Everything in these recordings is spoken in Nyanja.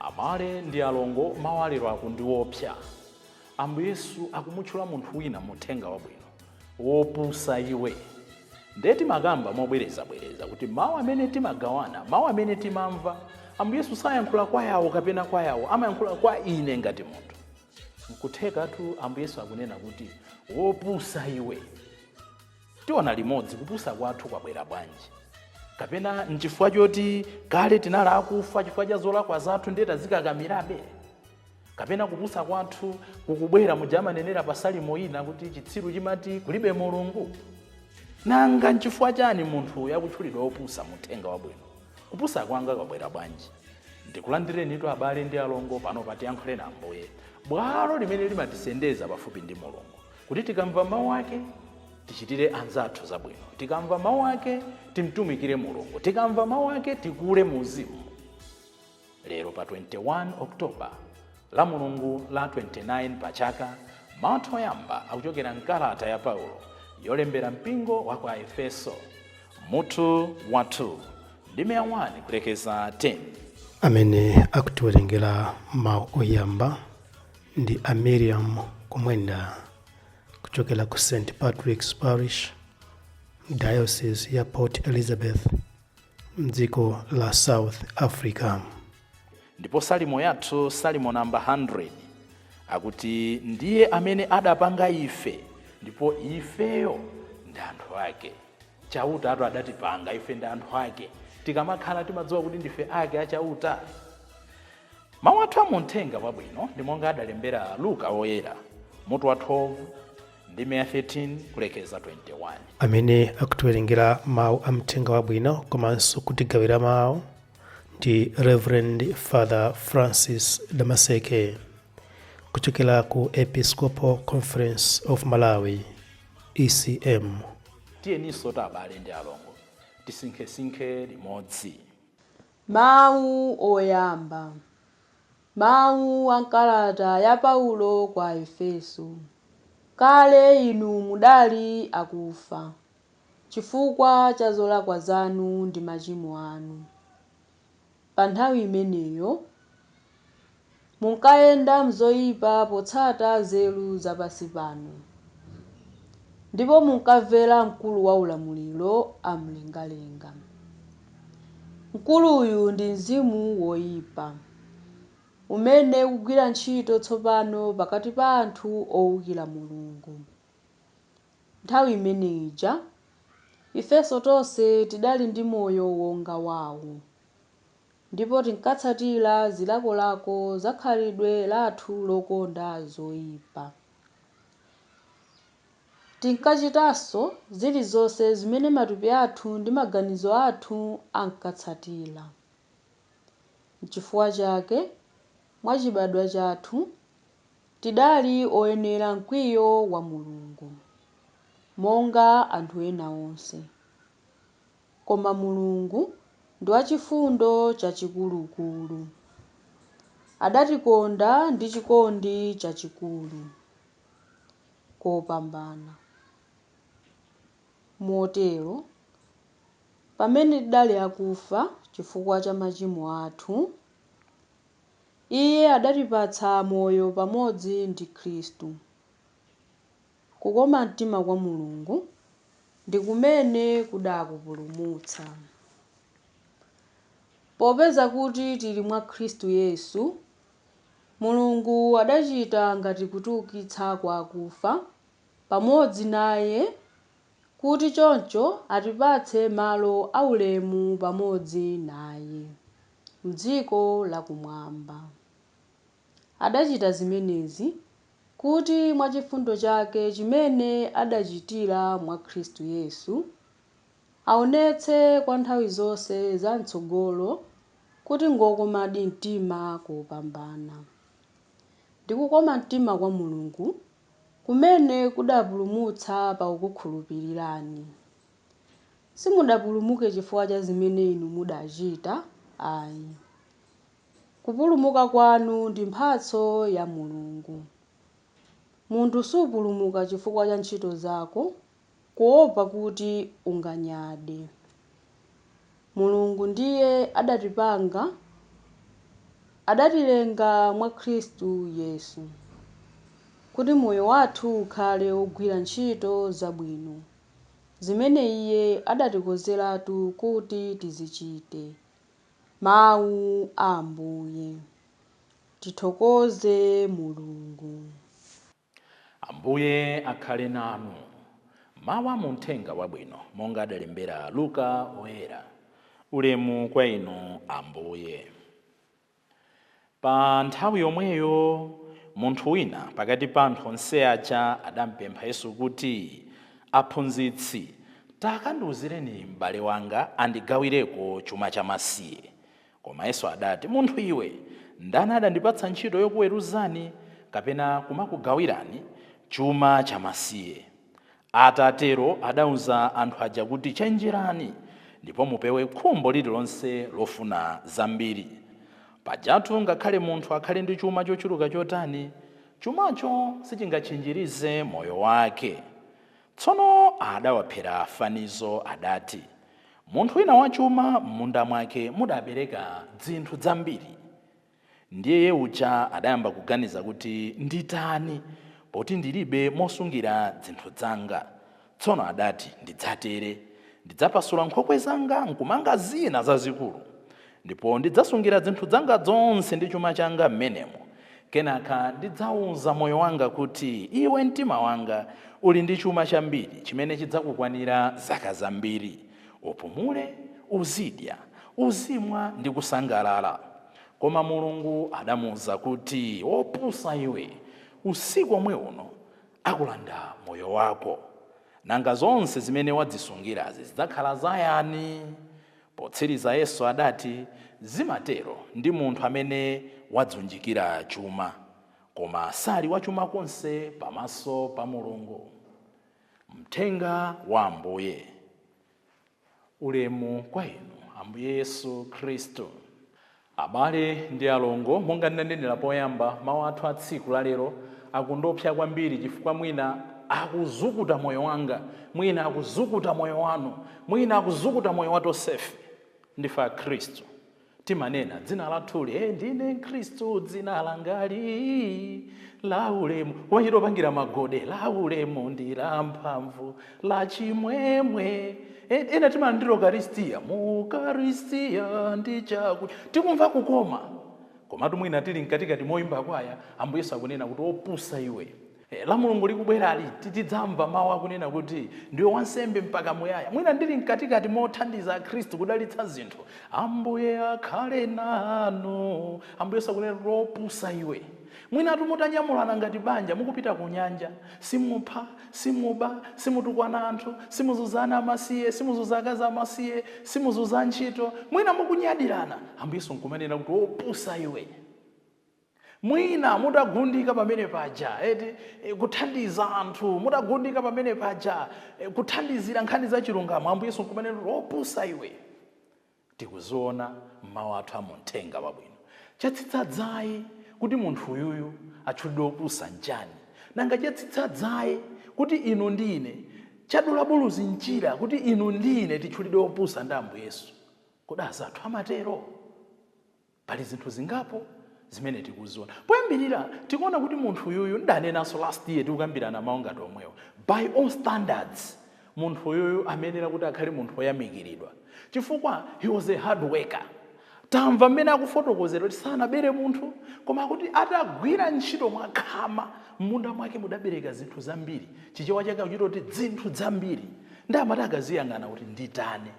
Abale ndi alongo, mawu a lero akutu ndi oopsa. Ambuye Yesu akumutchula munthu wina mu uthenga wabwino. Wopusa iwe. Ndiye timakamba mobwerezabwereza kuti mawu amene timagawana, mawu amene timamva, Ambuye Yesu sayankhula kwa yawo kapena kwa yawo, amayankhula kwa ine ngati munthu. Nkuthekatu Ambuye Yesu akunena kuti wopusa iwe. Tiona limodzi kupusa kwathu kwabwera bwanji. Kapena n'chifukwa choti kale tinali akufa chifukwa cha zolakwa zathu ndiye tazikakamirabe? Kapena kupusa kwathu kukubwera muja amanenera pa Salimo ina kuti chitsiru chimati kulibe Mulungu? Nanga n'chifukwa chani munthu uyu akutchulidwa wopusa mu uthenga wabwino? Kupusa kwanga kwabwera bwanji? Ndikulandirenitu abale ndi alongo pano pa Tiyankhuleni Ambuye, bwalo limene limatisendeza pafupi ndi Mulungu. kuti tikamva mawu ake tichitire anzathu zabwino tikamva mawu ake timtumikire mulungu tikamva mawu ake tikule mu uzimu lero pa 21 oktoba la mulungu la 29 pa chaka mawu oyamba akuchokera mkalata ya paulo yolembera mpingo wa kwa efeso mutu wa 2 ndime ya 1 kulekeza 10 amene akutiwerengera mawu oyamba Ndi a Miriam Kumwenda kuchokera ku St Patrick's Parish Diocese ya Port Elizabeth mdziko la South Africa. Ndipo salimo yathu, salimo namba 100, akuti ndiye amene adapanga ife ndipo ifeyo ndi anthu ake. Chautatu adatipanga, ife ndi anthu ake. Tikamakhala timadziwa kuti ndife ake a Chauta. Mawu athu a mu Uthenga Wabwino ndi monga adalembera Luka Woyera, mutu wa 12, ndime ya 13 kulekeza 21. Amene akutiwerengera mawu a Uthenga Wabwino komanso kutigawira mawu ndi Rev. Father Francis Damaseke kuchokera ku Episcopal Conference of Malawi. ECM. Tiyeninsotu abale ndi alongo tisinkhesinkhe limodzi. Mawu Oyamba Mawu a m'kalata ya Paulo kwa Efeso Kale inu mudali akufa chifukwa cha zolakwa zanu ndi machimo anu. Pa nthawi imeneyo, munkayenda m'zoipa potsata nzeru za pansi pano, ndipo munkamvera mkulu wa maulamuliro a m'mlengalenga. Mkuluyu ndi mzimu woipa, umene ukugwira ntchito tsopano pakati pa anthu oukira Mulungu. Nthawi imene ija, ifenso tonse tidali ndi moyo wonga wawo, ndipo tinkatsatira zilakolako za khalidwe lathu lokonda zoipa. Tinkachitanso zilizonse zimene matupi athu ndi maganizo athu ankatsatira. Nchifukwa chake, mwachibadwa chathu, Tidali oyenera mkwiyo wa Mulungu, monga anthu ena onse. Koma Mulungu ndi wachifundo chachikulukulu. Adatikonda ndi chikondi chachikulu kopambana. Motero, pamene tidali akufa chifukwa cha machimo athu, Iye adatipatsa moyo pamodzi ndi Khristu. Kukoma mtima kwa Mulungu ndi kumene kudakupulumutsa. Popeza kuti tili mwa Khristu Yesu, Mulungu adachita ngati kutiwukitsa kwa akufa pamodzi naye kuti choncho atipatse malo aulemu pamodzi naye. m'dziko lakumwamba. Adachita zimenezi kuti mwa chifundo chake chimene adachitira mwa Khristu Yesu, aonetse kwa nthawi zonse za m'tsogolo kuti ngwokomadi mtima kopambana. Ndi kukoma mtima kwa Mulungu kumene kudapulumutsa pakukukhulupirirani. Simudapulumuke chifukwa cha zimene inu mudachita ayi. Kupulumuka kwanu ndi mphatso ya Mulungu. Munthu suupulumuka chifukwa cha ntchito zako, kuwopa kuti unganyade. Mulungu ndiye adatipanga, adatilenga mwa Khristu Yesu, kuti moyo wathu ukhale wogwira ntchito zabwino, zimene Iye adatikonzeratu kuti tizichite. Mawu a Ambuye. Tithokoze Mulungu. Ambuye akhale nanu. Mawu a mu Uthenga Wabwino monga adalembera Luka Woyera. Ulemu kwa Inu Ambuye. Pa nthawi yomweyo, munthu wina pakati pa anthu onse aja adampempha Yesu kuti, Aphunzitsi, takandiwuzireni m'bale wanga andigawireko chuma chamasiye. Koma Yesu adati, Munthu iwe, ndani adandipatsa ntchito yokuweruzani kapena kumakugawirani chuma chamasiye? Atatero adauza anthu aja kuti, Chenjerani, ndipo mupewe khumbo lililonse lofuna zambiri. Pajatu ngakhale munthu akhale ndi chuma chochuluka chotani, chumacho sichingatchinjirize moyo wake. Tsono adawaphera fanizo, adati, Munthu wina wachuma m'munda mwake mudabereka dzinthu dzambiri. Ndiye iye uja adayamba kuganiza kuti, Nditani, poti ndilibe mosungira dzinthu dzanga. Tsono adati, Ndidzatere, ndidzapasula nkhokwe zanga nkumanga zina zazikulu, ndipo ndidzasungira dzinthu dzanga dzonse ndi chuma changa m'menemo. Kenaka ndidzauza moyo wanga kuti, Iwe mtima wanga, uli ndi chuma chambiri chimene chidzakukwanira zaka zambiri. Upumule, uzidya, uzimwa ndi kusangalala. Koma Mulungu adamuuza kuti, Wopusa iwe, usiku omwe uno akulanda moyo wako. Nanga zonse zimene wadzisungirazi zidzakhala za yani? Potsiriza Yesu adati, Zimatero ndi munthu amene wadziunjikira chuma, koma sali wachuma konse pamaso pa Mulungu. Mthenga wa Ambuye. Ulemu kwa Inu, Ambuye Yesu Khristu. Abale ndi alongo, monga ndinanenera poyamba, mawu athu a tsiku la lero akundopsa kwambiri chifukwa mwina akuzukuta moyo wanga, mwina akuzukuta moyo wanu, mwina akuzukuta moyo wa tonsefe. Ndife Akhristu. Timanena dzina lathuli, ee ndine mkhristu dzina langali la ulemu, kumachita kupangira magode la ulemu ndi la mphamvu la chimwemwe. Ena timanena ndi Ukaristiya, mu ukaristiya ndi chakudya tikumva kukoma. Komatu mwina tili mkatikati moimba kwaya, Ambuye Yesu akunena kuti opusa iwe, La Mulungu likubwerali, tidzamva mawu akunena kuti, Ndiwe wansembe mpaka muyaya. Mwina ndili mkatikati mothandiza Akhristu kudalitsa zinthu, Ambuye akhale nanu. Ambuye Yesu akunena kuti, Opusa iwe! Mwinatu mutanyamulana ngati banja mukupita kunyanja. Simupha, simuba, simutukwana anthu, simuzunza ana amasiye, simuzunza akazi amasiye, simuzunza antchito. Mwina mukunyadirana, Ambuye Yesu n'kumanena kuti, Opusa iwe! Mwina mutagundika pamene paja eti, kuthandiza anthu, mutagundika pamene paja kuthandizira nkhani za chilungamo, Ambuye Yesu nkumanena kuti, Opusa iwe! Tikuziona m'mau athu a mu Mthenga Wabwino. Chatsitsa dzaye kuti munthu uyuyu atchulidwe wopusa nchani? Nanga chatsitsa dzaye kuti inu ndi ine, chadula buluzi mchira kuti inu ndi ine titchulidwe opusa ndi Ambuye Yesu? Kodi azathu amatero? Pali zinthu zingapo zimene tikuziona. Poyambirira tikuona kuti munthu uyuyu ndidanenanso last year tikukambirana mau ngati omwewo. By all standards munthu uyuyu ameyenera kuti akhale munthu oyamikiridwa chifukwa he was a hard worker. Tamva mmene akufotokozera kuti sanabere munthu koma akuti atagwira ntchito mwakhama mmunda mwake mudabereka zinthu zambiri. Chichewa chake akuchita kuti dzinthu dzambiri. Ndiye amati akadziyang'ana kuti nditani?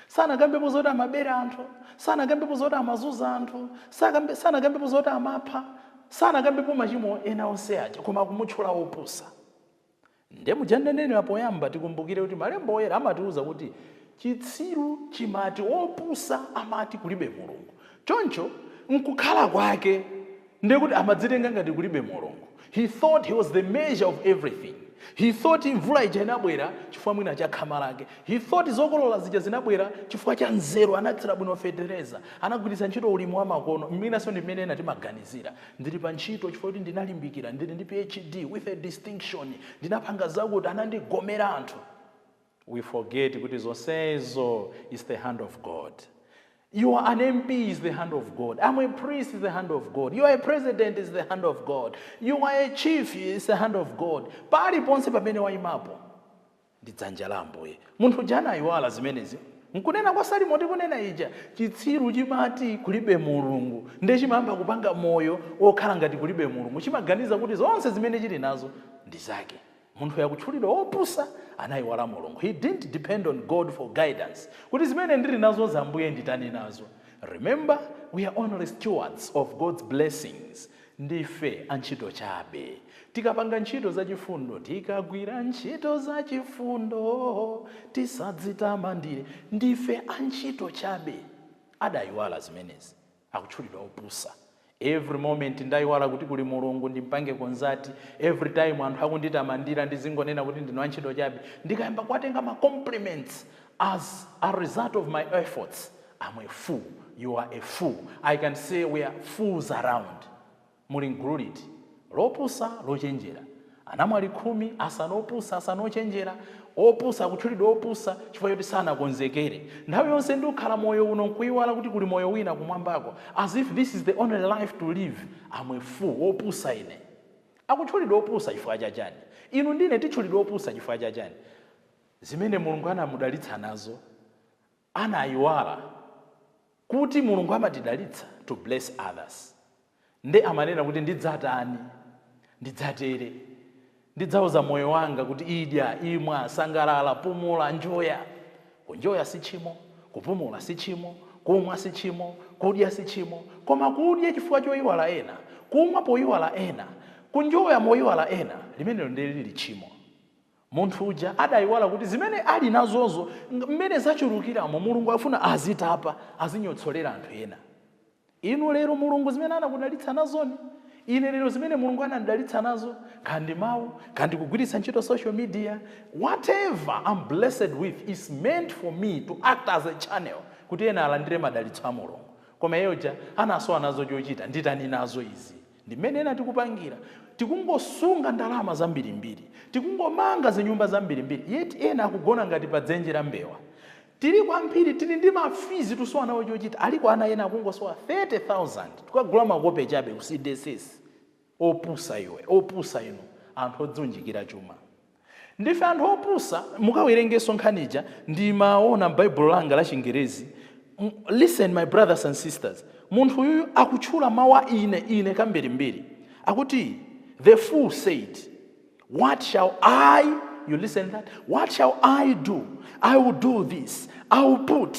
Sanakambepo zoti amabera anthu, sanakambepo zoti amazunza anthu, sakambe, sanakambepo zoti amapha, sanakambepo machimo ena onse aja koma akumutchula wopusa. Nde muja ndanenera poyamba tikumbukire kuti malemba oyera amatiuza kuti chitsiru chimati wopusa amati kulibe Mulungu. Choncho nkukhala kwake. Ndiye kuti amadzitenga ngati kulibe Mulungu. He thought he was the measure of everything. He thought mvula ija inabwera chifukwa mwina cha khama lake. He thought zokolola zija zinabwera chifukwa cha nzeru, anathira bwino fetereza, anagwiritsa ntchito ulimi wa makono, mwinanso ndi mmene ena timaganizira. Ndili pa ntchito chifukwa choti ndinalimbikira, ndili ndi PhD, with a distinction, ndinapanga zakuti, anandigomera anthu. we forget kuti zonsezo is the hand of god You are an MP is the hand of God. I'm a priest is the hand of God. You are a president is the hand of God. You are a chief is the hand of God. Pali ponse pamene waimapo ndi dzanja la Ambuye. Munthu uja anaiwala zimenezi. Nkunena kwa Salimo tikunena ija chitsiru chimati kulibe Mulungu ndiye chimayamba kupanga moyo wokhala ngati kulibe Mulungu chimaganiza kuti zonse zimene chili nazo ndi zake. Munthuyu akutchulidwa wopusa, anaiwala Mulungu, he didn't depend on God for guidance kuti zimene ndili nazozi Ambuye nditani nazo? Remember we are only stewards of God's blessings, ndife antchito chabe. Tikapanga ntchito zachifundo, tikagwira ntchito zachifundo, tisadzitamandire, ndife antchito chabe. Adaiwala zimenezi. akutchulidwa opusa. Every moment ndaiwala kuti kuli Mulungu ndimpange consult, every time anthu akunditamandira ndizingonena kuti ndine wantchito chabe, ndikayamba kuwatenga ma compliments as a result of my efforts, am a fool, you are a fool, I can say we are fools around. Muli m'gulu liti? Lopusa, lochenjera. Anamwali khumi, asanu opusa, asanu ochenjera. Opusa akutchulidwa opusa chifukwa choti sanakonzekere. Nthawi yonse ndikhala moyo uno nkuiwala kuti kuli moyo wina kumwambako, as if this is the only life to live, am a fool, wopusa ine. Akutchulidwa opusa chifukwa cha chani? Inu ndi ine titchulidwa opusa chifukwa cha chani? Zimene Mulungu anamudalitsa nazo. Anayiwala Kuti mulungu amatidalitsa to bless others nde amanena Kuti ndidzatani, ndidzatere, ndidzauza moyo wanga Kuti idya, imwa, sangalala, pumula, njoya, kunjoya sitchimo, kupumula sitchimo, kumwa sitchimo, kudya sitchimo koma kudya chifukwa choiwala ena, kumwa poiwala ena, kunjoya moiwala ena limenelo ndi lili tchimo. Munthu uja adaiwala kuti zimene ali nazozo, mmene zachulukiramo, Mulungu afuna azitapa, azinyotsolera anthu ena. Inu lero Mulungu zimene anakudalitsa nazoni? Ine lero zimene Mulungu anandidalitsa nazo? Kaya ndi mau, kaya ndi kugwiritsa ntchito social media, whatever am blessed with is meant for me to act as a channel kuti ena alandire madalitso a Mulungu. Koma iye uja anasowa nazo chochita, nditani nazo izi? Ndi mene ena tikupangira. Tikungosunga ndalama zambirimbiri. Tikungomanga zinyumba zambirimbiri yet ena akugona ngati pa dzenje la mbewa. Tili kwambiri tili ndi ma fees tusowa nawo chochita. Aliko ana ena akungosowa 30,000 kukagula makope chabe ku cdss. Opusa iwe, opusa inu anthu odziunjikira chuma. Ndife anthu opusa, mukawerengeso nkhani ija ndimaona m'baibulo langa la chingerezi, listen my brothers and sisters, munthu uyuyu akutchula mau a ine, ine kambirimbiri, akuti the fool said, what shall I, you listen that, what shall I do, I will do this, I will put,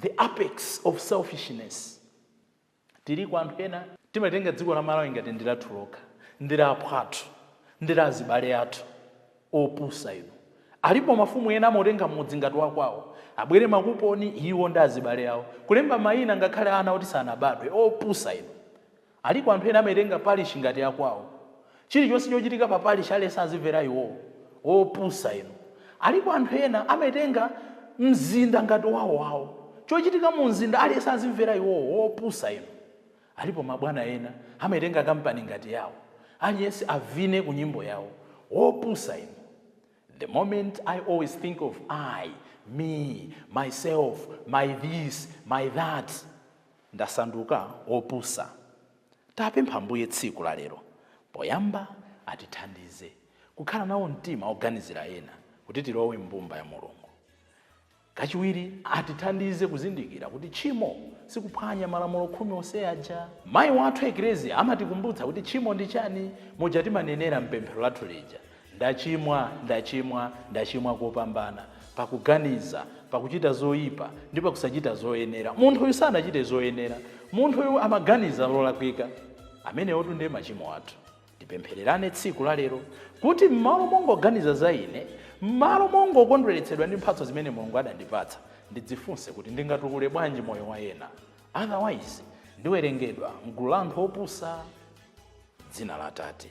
The apex of selfishness tiliko anthu ena timatenga dziko la Malawi ngati ndi lathu lokha ndi la aphwathu ndi la azibale athu opusa inu alipo mafumu ena amautenga mudzi ngati wakwawo abwere makuponi iwo ndi azibale awo kulemba maina ngakhale ana oti sanabadwe opusa inu Aliko anthu ena amaitenga parish ngati yakwawo. Chilichonse chochitika pa parish aliyense azimvera iwowo. Opusa inu. Aliko anthu ena amautenga mzinda ngati wawo wawo. Chochitika mu mzinda aliyense azimvera iwowo. Opusa inu. Alipo mabwana ena amaitenga company ngati yawo. Aliyense avine ku nyimbo yawo. Opusa inu. The moment I always think of I, me, myself, my this, my that. Ndasanduka opusa. Tapempha Ambuye tsiku la lero poyamba atithandize kukhala nawo mtima oganizira ena kuti tilowe m'mbumba ya Mulungu. Kachiwiri atithandize kuzindikira kuti tchimo sikuphwanya malamulo khumi onse aja. Mayi wathu Eklezia amatikumbutsa kuti tchimo ndi chani muja timanenera m'pemphero lathu lija Ndachimwa, ndachimwa, ndachimwa kopambana, pakuganiza, pakuchita zoyipa, ndi pakusachita zoyenera. Munthu uyu sanachite zoyenera. Munthu uyu amaganiza zolakwika. Amenewotu ndiye machimo athu. Tipemphererane tsiku la lero kuti m'malo mongoganiza za ine, m'malo mongokondweretsedwa ndi mphatso zimene Mulungu adandipatsa, ndidzifunse kuti ndingatukule bwanji moyo wa ena? Otherwise, ndiwerengedwa m'gulu la anthu opusa? M'dzina la Atate,